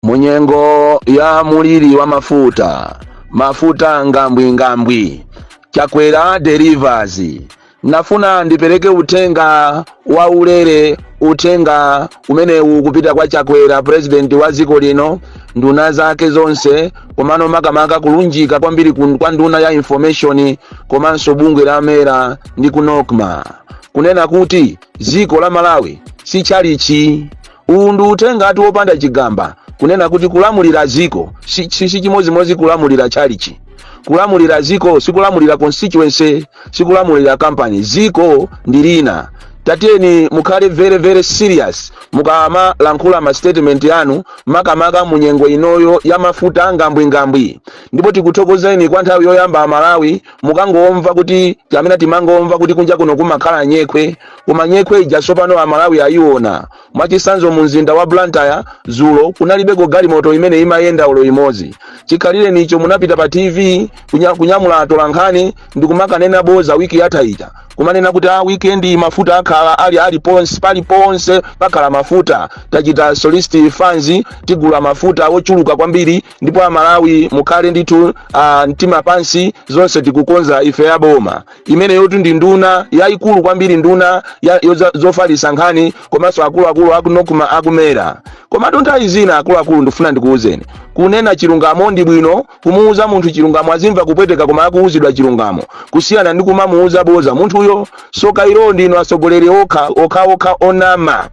Mu nyengo ya muliri wa mafuta, mafuta ngambwingambwi, Chakwera delivers. Nafuna ndipereke uthenga wa ulere, uthenga umene ukupita kwa Chakwera, president wa dziko lino, nduna zake zonse, komano makamaka kulunjika kwambiri kun- kwa nduna ya information komanso bungwe la MERA ndi ku NOCMA kunena kuti dziko la Malawi si tchalichi Uwu ndi uthengatu wopanda chigamba kunena kuti kulamulira dziko si si- si chimodzimodzi kulamulira tchalichi. Kulamulira dziko sikulamulira constituency, sikulamulira company. Dziko ndi lina. Tatiyeni mukhale very very serious mukamalankhula ma statement yanu makamaka mu nyengo inoyo ya mafuta ngambwingambwi. Ndipo tikuthokozeni kwa nthawi yoyamba a Malawi mukangomva kuti amene timangomva kuti kunja kuno kumakhala nyekhwe Koma nyekhwe ija tsopano Amalawi ayiona. Mwachitsanzo mumzinda wa Blantyre dzulo kunalibeko galimoto imene imayenda olo imodzi. Chikhalirenicho munapita pa TV kunya, kunyamula atolankhani ndi kumakanena boza wiki yatha ija kumanena kuti a weekend iyi mafuta akhala ali paliponse pakhala mafuta tachita solicit funds tigula mafuta ochuluka kwambiri ndipo amalawi mukhale ndithu ah, mtima pansi zonse tikukonza ife aboma imeneyotu ndi nduna yayikulu kwambiri nduna ya- yoza- zofalitsa nkhani komanso akuluakulu a ku NOCMA a ku MERA komatu nthawi zina akuluakulu ndifuna ndikuwuzeni kunena chilungamo ndi bwino kumuwuza munthu chilungamo azimva kupweteka koma akuwuzidwa chilungamo kusiyana ndi kumamuwuza boza munthuyo tsoka ilo ndinu atsogoleri okha okhaokha onama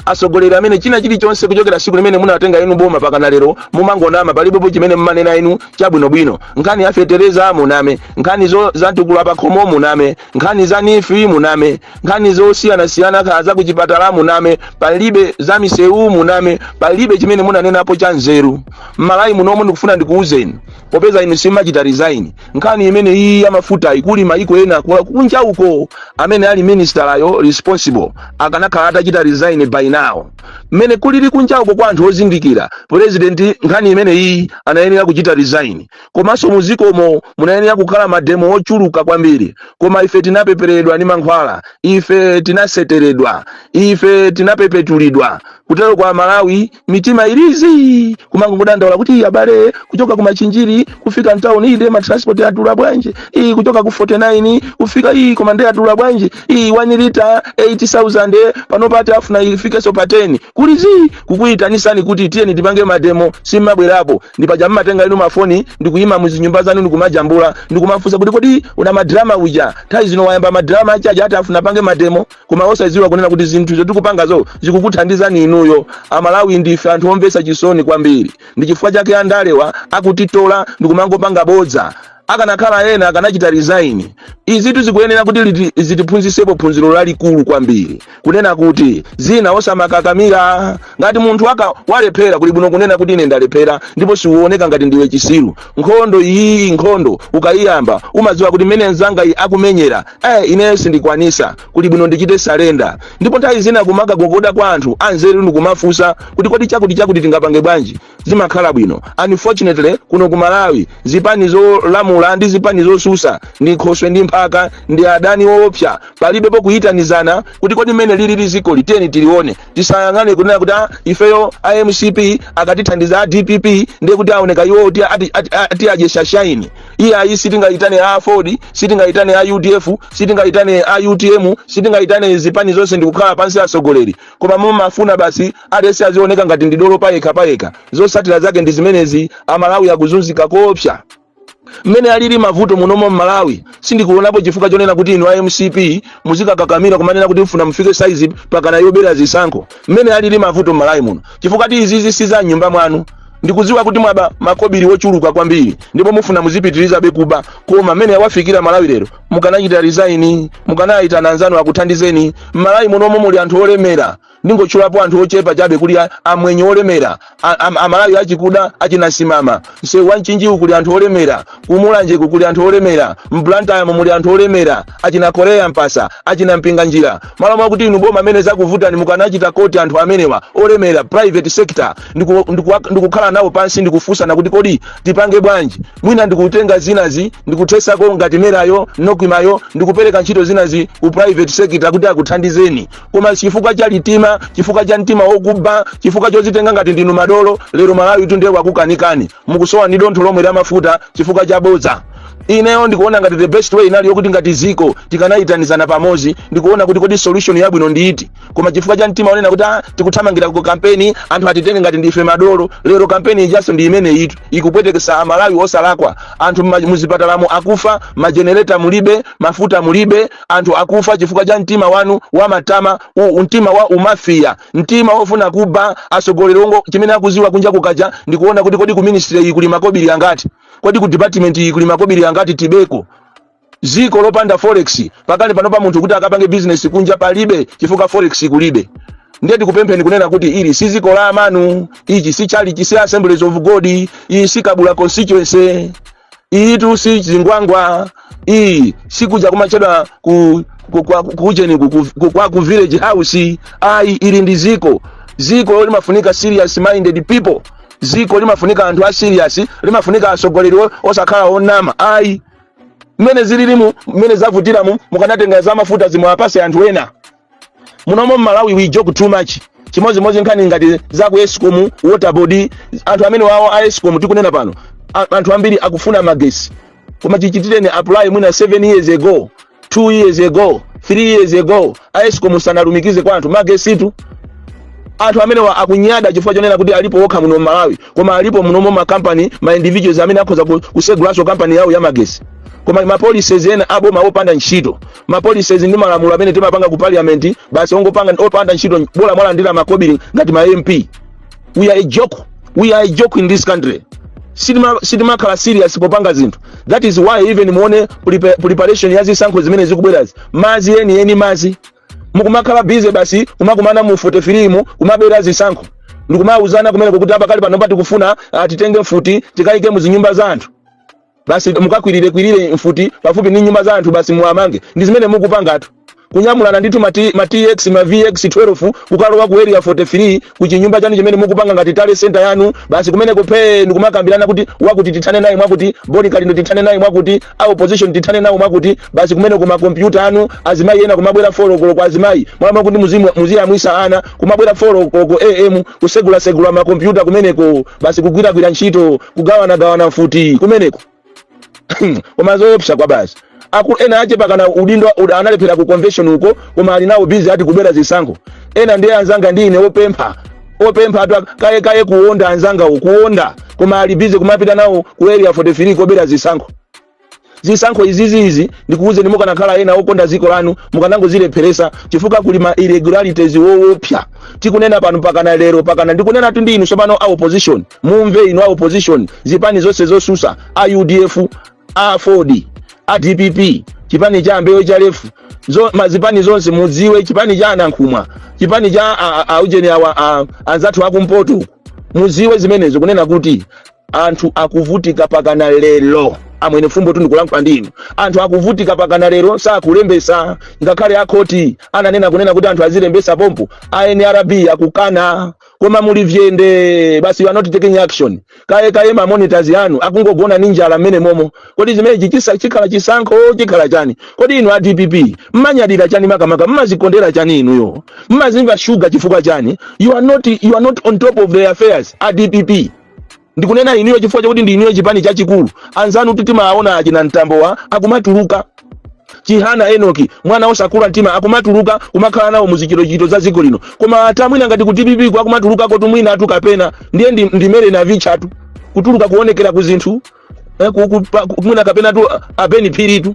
atsogoleri amene china chilichonse kuchokera tsiku limene munatenga inu boma mpakana lero mumangonama palibepo chimene mmanena inu chabwinobwino nkhani ya fetereza muname nkhani zo za mtukula pakhomo muname nkhani za NEEF muname nkhani zosiyanasiyana kha za kuchipatala muname palibe za misewu muname palibe chimene munanenapo cha nzeru m'Malawi munomo ndikufuna ndikuwuzeni popeza inu simmachita resign nkhani imene iyi ya mafuta ikuli maiko ena kwa kunja uko amene ali ministerayo responsible akanakhala atachita resign by now mmene kulili kunja uko kwa anthu ozindikira president nkhani imene iyi anayenera kuchita resign komanso mudzikomo munayenera kukhala mademo ochuluka kwambiri koma ife tinapeperedwa ndi mankhwala ife tinaseteredwa ife tinapepetulidwa kuteroko aMalawi mitima ili zii kumangodandaula kuti abale kuchoka ku machinjiri kufika mtauni ii ndiye matransport yadula bwanji ii kuchoka ku 49 kufika ii koma ndiye yadula bwanji ii 1 lita 8000 panopa ati afuna ifikenso pa 10 kuli zii kukuyitanitsani kuti tiyeni tipange mademo simmabwerapo ndi paja mmatenga inu mafoni ndikuyima muzinyumba zanu ndikumajambula ndikumafunsa kuti kodi una madrama uja nthawi zino wayamba madrama ache aja ati afuna apange mademo koma osadziwa kunena kuti zinthu zotikupangazo zikukuthandizani inuyo amalawi ndife anthu omvetsa chisoni kwambiri ndi chifukwa chake andalewa akutitola ndikumangopanga bodza akanakhala ena akanachita resign izitu zikuyenera kuti liti- zitiphunzisepo phunziro lalikulu kwambiri kunena kuti zina osamakakamira ngati munthu waka walephera kuli bwino kunena kuti ine ndalephera ndipo siuoneka ngati ndiwe chisiru nkhondoyi nkhondo ukayiyamba umadziwa kuti mmene mzanga iyi akumenyera eh ineyo sindikwanisa kuli bwino ndichite surrender ndipo nthawi zina kumakagogoda kwa anthu anzeru ndikumafunsa kuti kodi chakuti chakuti tingapange bwanji zimakhala bwino unfortunately kuno ku malawi zipani zolamula ndi zipani zosusa ndi khoswe ndi mphaka ndi adani woopsa palibe pokuyitanizana kuti kodi mmene lilili zikoli tiyeni tilione tisayang'ane kunena kuti "Ah, ifeyo a mcp akatithandiza a dpp ndiye kuti aoneka iwo kuti ati- ati- ati adye shaini iyayi sitingayitane a aford sitingayitane a udf sitingayitane a utm sitingayitane zipani zonse ndikukhala pansi atsogoleri koma mumafuna basi aliyense azioneka ngati ndidolo payekha payekha zotsatira zake ndi zimenezi amalawi akuzunzika koopsa mmene alili mavuto munomo m'malawi sindikuonapo chifukwa chonena kuti inu a mcp muzikakakamira kumanena kuti mufuna mufike saizi pakana yobera zisankho mmene alili mavuto m'malawi muno chifukwa ti izizi si za mnyumba mwanu ndikudziwa kuti mwaba makobiri wochuluka kwambiri ndipo mufuna muzipitirizabe kuba koma mmene yawafikira malawi lero mukanachita resign mukanayitana anzanu akuthandizeni m'malawi munomu muli anthu olemera Ndingotchulapo anthu ochepa chabe kuli a, amwenye olemera, a, a, amalawi achikuda, achinasimama, msewu wa mchinjiwu kuli anthu olemera, ku mulanjeku kuli anthu olemera, m'blantyre-mo muli anthu olemera, achina korea mpatsa, achina mpinganjira, malo mokuti inu boma mmene zakuvutani mukanayitanako anthu amenewa olemera, private sector, ndiku- ndikuwa- ndikukhala nawo pansi ndikufunsana kuti kodi tipange bwanji mwina ndikutenga zinazi ndikuthesako ngati mera-yo nocma-yo ndikupereka ntchito zinazi ku private sector kuti akuthandizeni koma chifukwa cha liuma chifukwa cha mtima wokuba chifukwa chozitenga ngati ndinu madolo lero malawi tu ndiye wakukanikani mukusowa ni dontho lomwe la mafuta chifukwa cha bodza ineyo ndikuona ngati the best way inali yokuti ngati ziko tikanayitanizana pamodzi ndikuona kuti kodi solution yabwino ndi iti koma chifukwa cha mtima onena kuti ah, tikuthamangira ku kampeni anthu atitenge ngati ndife madolo lero kampeni ijaso ndi imene ili ikupwetekesa amalawi osalakwa anthu mma- muzipatalamu akufa majenereta mulibe mafuta mulibe anthu akufa chifukwa cha mtima wanu wa matama, u mtima wa umafiya, mtima wofuna kuba atsogoleri ongo chimene akuziwa kunja kukacha ndikuona kuti kodi ku ministry iyi kuli makobili angati, kodi ku department iyi kuli makobili angati tibeko. Ziko lopanda forex pakali panopa munthu kuti akapange business kunja palibe chifukwa forex kulibe. Ndiye tikupempheni kunena kuti ili si ziko la amanu, ichi si chalichi, si Assemblies of God, iyi si Kabula constituency. iyitu si Zingwangwa iyi sikuja kumachedwa ku ku- kwa- ku- kucheni ku- ku- ku- kwa ku village house ayi ili ndi ziko ziko limafunika serious minded people ziko limafunika anthu a serious limafunika atsogoleri o- osakhala onama ayi mmene zililimu mmene zavutiramu mukanatenga za mafuta zimwe apase anthu ena munomo mmalawi we joke too much chimodzimodzi nkhani ngati za ku escom water board anthu amenewawo a escom tikunena pano a- anthu ambiri akufuna magesi koma chichitireni apply mwina 7 years ago 2 years ago 3 years ago a escom sanalumikize kwa anthu magesitu anthu amenewa akunyada chifukwa chonena kuti alipo okha muno mmalawi koma alipo munomo makampani ma individuals amene akhoza ku- kusegulanso kampani yawo ya magesi koma mapolicies ena aboma opanda ntchito ma policies ndi malamulo amene timapanga ku parliament basi ongopanga opanda ntchito bola mwalandira makobiri ngati ma mp we are a joke we are a joke in this country sitima- sitimakhala serious popanga zinthu that is why even muone prepa- preparation ya zisankho zimene zikubwerazi madzi eni eni madzi mukumakhala busy basi kumakumana mu 43 mu- kumabera zisankho ndikumauzana kumeneko kuti apakali pano pa- tikufuna ah, titenge mfuti tikayike mu zinyumba za anthu basi mukakwirire kwirire mfuti pafupi ndi nyumba za anthu basi muwamange ndi zimene mukupangatu kunyamulana ndithu ma T- ma tx ma vx 12 kukalowa ku area 43 ku chinyumba chanu chimene mukupanga ngati tally center yanu basi kumeneko phee ndikumakambirana kuti wakuti tithane naye mwakuti Bon Kalindo tithane naye mwakuti a opposition tithane nawo mwakuti basi kumeneko makompyuta anu azimayi ena kumabwera 4 koloko ya azimayi mmalo kuti muzimu- muziyamwisa ana kumabwera 4 koloko am kusegulasegula makompyuta kumeneko basi kugwiragwira ntchito kugawanagawana mfuti kumeneko koma zoopsa kwa basi ena aje pakana udindo ud- analephera ku convention uko koma ali nawo busy ati kubera zisankho ena ndiye anzanga ndi ine opempha opemphatu ak- kaye kaye kuonda anzangawo kuonda koma ali busy kumapita nawo ku area 43 kobera zisankho zisankho izizi izi ndikuwuzeni mukanakhala ena okonda dziko lanu mukanangozilepheresa chifukwa kuli ma irregularities wowopsa tikunena pano pakana lero pakana ndikunena tu ndi inu tsopano a opposition mumve inu a opposition zipani zonse zosusa a udf a AFORD a dpp chipani cha a Mbewe cha lefu zo, mazipani zonse mudziwe chipani cha a Nankhumwa chipani cha a- a- aujeni awa a- anzathu akumpoto mudziwe zimenezo kunena kuti anthu akuvutika pakana lero amwene Vumbwe tu ndikulankhula ndi inu anthu akuvutika pakana lero sakulembesa ngakhale akhoti ananena kunena kuti anthu azilembesa pompo a nrb akukana koma muli vyende basi you are not taking action kaye kaye ma monitors anu akungogona ni njala mmenemomo kodi zimenechi chisa- chikhala chisankho chikhala chani kodi inu a dpp mmanyadira chani makamaka mmazikondera chani inuyo mmazimva shuga chifukwa chani you are not, you are not on top of the affairs a dpp ndikunena inuyo chifukwa chakuti ndi inuyo chipani chachikulu anzanu kuti timaona achina mtambowa akumatuluka chihana enoki mwana osakula mtima akumatuluka kumakhala nawo muzichitochito za dziko lino koma ata mwina ngati kuti DPP ikumatulukako tu mwinatu kapena ndiye ndi- ndi mere navichatu kutuluka kuonekera ku zinthu eh, mwina kapena tu abeni phiri tu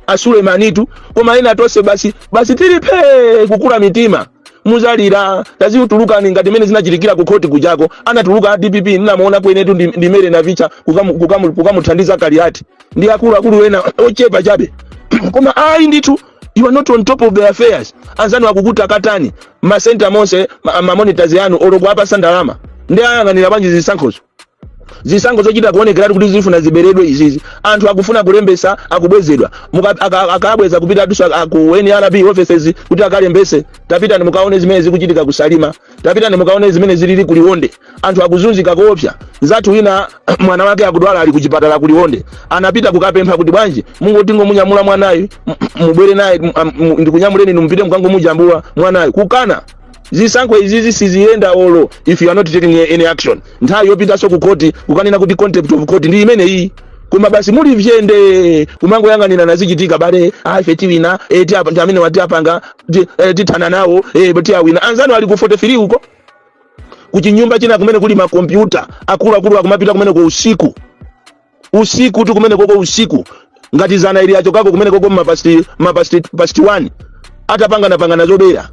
asulemani tu koma ena tonse basi basi tili phee kukula mitima muzalira tazitulukani ngati mene zinachitikira ku khoti kujako anatuluka a dpp ndinamuonako inetu ndi, ndi mere navicha kukamu- kukamu- kukamuthandiza kaliati ndi akuluakulu ena ochepa chabe koma ayi ndithu you are not on top of the affairs anzanu akukutakatani masenta monse ma- mamonitors anu olo kuwapasa ndalama ndi ayang'anira bwanji zisankhozo zisankho zochita kuonekeratu kuti zifuna ziberedwe izizi anthu akufuna kulembesa akubwezedwa Muka- aka- akabweza kupita adusa ku nrb offices kuti akalembese tapitani mukaone zimene zikuchitika kusalima tapitani mukaone zimene zilili kuliwonde anthu akuzunzika koopsa nzathu wina mwana wake akudwala ali kuchipatala kuliwonde anapita kukapempha kuti bwanji mungotingomunyamula mwanayu m- m- mubwere naye m- m- ndikunyamuleni nimupite mukangomujambula mwanayu kukana zisankho izizi siziyenda olo if you are not taking any action nthawi yopitanso ku court kukanena kuti contempt of court ndi ino iyi koma basi muli vyende kumangoyang'anira nazichitikabe ife tiwina eh, ti apa- ndi amene wati apanga ti- eh, tithana nawo eh, ti awina anzanu ali ku 43 uko kuchinyumba china kumene kuli makompyuta akuluakulu akumapita kumeneko usiku usikutu kumeneko usiku ngati zana ili achokako kumeneko mapasti mapasti pasti 1 atapangana pangana zobera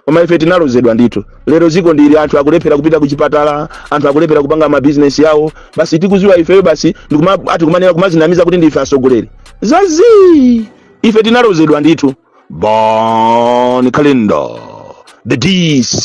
koma ife tinalozedwa ndithu lero ziko ndili anthu akulephera kupita kuchipatala anthu akulephera kupanga mabizinesi yawo basi tikuziwa ifeyo basi ndikuma ati kumanena kumazinamiza kuti ndife asogoleri zazi ife tinalozedwa ndithu bon kalindo the dc